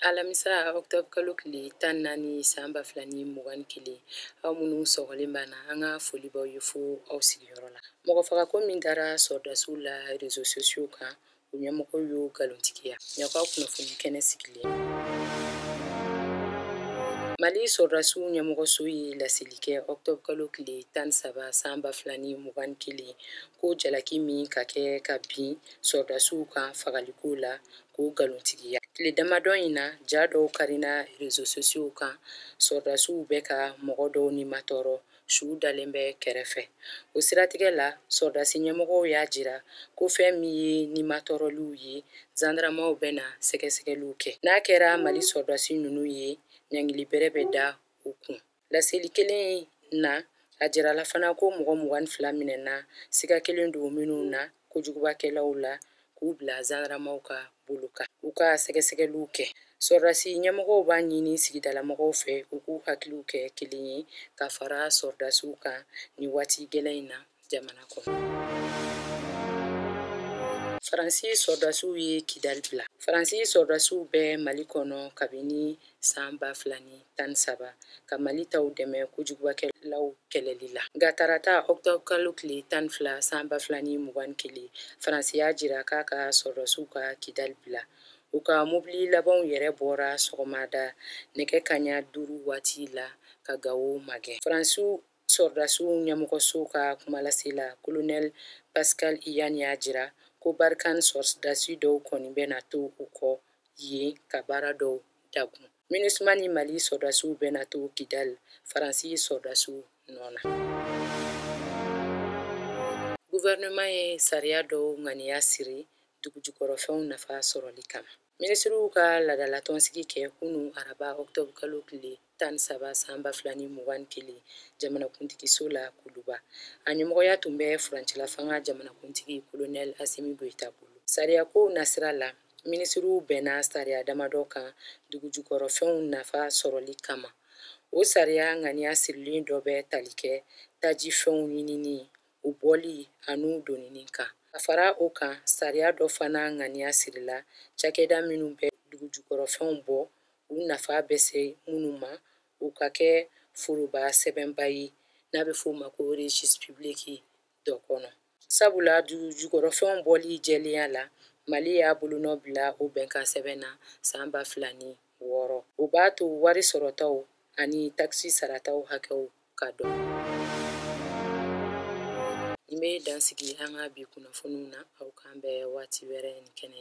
alamisa octobre kalo tile tan ni naani san ba fila ni mugan ni kelen aw minnu sɔgɔlen b'an na an ka foli b'aw ye fo aw sigiyɔrɔ la mɔgɔfagako min dara sɔrɔdasiw la rezo sosiyo kan u ɲɛmɔgɔ y'o nkalontigiya ɲakaw kunnafoni kɛnɛ sigilen mali sɔrɔdasiw ɲɛmɔgɔso ye laseli kɛ octobre kalo tile tan ni saba san ba fila ni mugan ni kelen ko jalaki min ka kɛ ka bin sɔrɔdasiw kan fagaliko la k'o nkalontigiya tile damadɔ in na ja dɔw karina rezo sosiyo kan sɔrɔdasiw bɛ ka mɔgɔ dɔw nimatɔɔrɔ su dalen bɛ kɛrɛfɛ o siratigɛ la sɔrɔdasi ɲɛmɔgɔw y'a jira ko fɛn min ye nimatɔɔrɔliw ye zandaramaw bɛna sɛgɛsɛgɛliw kɛ n'a kɛra mali sɔrɔdasi ninnu ye ɲangili bɛrɛ bɛ da u kun Laseli kelen in na, a jirala fana ko mɔgɔ mugan ni fila minɛna siga kɛlen don minnu na kojugubakɛlaw la k'u bila zandaramaw ka bolo kan u ka sɛgɛsɛgɛliw kɛ. Sɔrɔdasi ɲɛmɔgɔw b'a ɲini sigidalamɔgɔw fɛ u k'u hakiliw kɛ kelen ye ka fara sɔrɔdasiw kan nin waati gɛlɛn in na. jamana kɔnɔ faransi sɔrɔdasiw ye kidali bila faransi sɔrɔdasiw bɛ mali kɔnɔ kabini san ba fila ni tan ni saba ka mali taw dɛmɛ kojugubakɛlaw kɛlɛli la nka tarata ɔktɔbr kalo tile tan ni fila san ba fila ni mugan ni kelen faransi y'a jira k'a ka sɔrɔdasiw ka kidali bila u ka mobili labanw yɛrɛ bɔra sɔgɔmada nɛgɛ kaɲa duuru waati la ka gawo magɛn faransi Sɔrɔdasiw ɲɛmɔgɔso ka kumalasela, Kolonɛl Pascal Ianni y'a jira ko Barkhane sɔrɔdasi dɔw kɔni bɛna to u kɔ yen ka baara dɔw dagun. Minusma ni Mali sɔrɔdasiw bɛna to Kidal, Faransi sɔrɔdasiw nɔ na. Guvɛrɛnɛman ye sariya dɔw ŋaniya siri dugujukɔrɔfɛnw nafa sɔrɔli kama. minisiriw ka laadalatɔnsigi kɛ kunun araba ɔktɔbu kalo tile tan ni saba san ba fila ni mugan ni kelen jamanakuntigiso la kuluba a ɲɛmɔgɔya tun bɛ furancɛlafanga jamanakuntigi kolonɛl asimi goyita bolo sariyakow nasira la minisiriw bɛnna sariya damadɔ kan dugujukɔrɔfɛnw nafa sɔrɔli kama o sariya ŋaniya sirilen dɔ bɛ tali kɛ tajifɛnw ɲinini u bɔli an'u donini kan. Ka fara o kan, sariya dɔ fana ŋaniya sirila cakɛda minnu bɛ dugujukɔrɔfɛnw bɔ u nafa bɛ se minnu ma, u ka kɛ foroba sɛbɛnba ye n'a bɛ f'o ma ko registre public dɔ kɔnɔ. Sabula dugujukɔrɔfɛnw bɔli jɛlenya la, Mali y'a bolonɔ bila o bɛnkansɛbɛn na san ba fila ni wɔɔrɔ. O b'a to wari sɔrɔtaw ani takisi sarataw hakɛw ka dɔn nin bɛ dansigi an ka bi kunnafoniw na aw k'an bɛn waati wɛrɛ ni kɛnɛ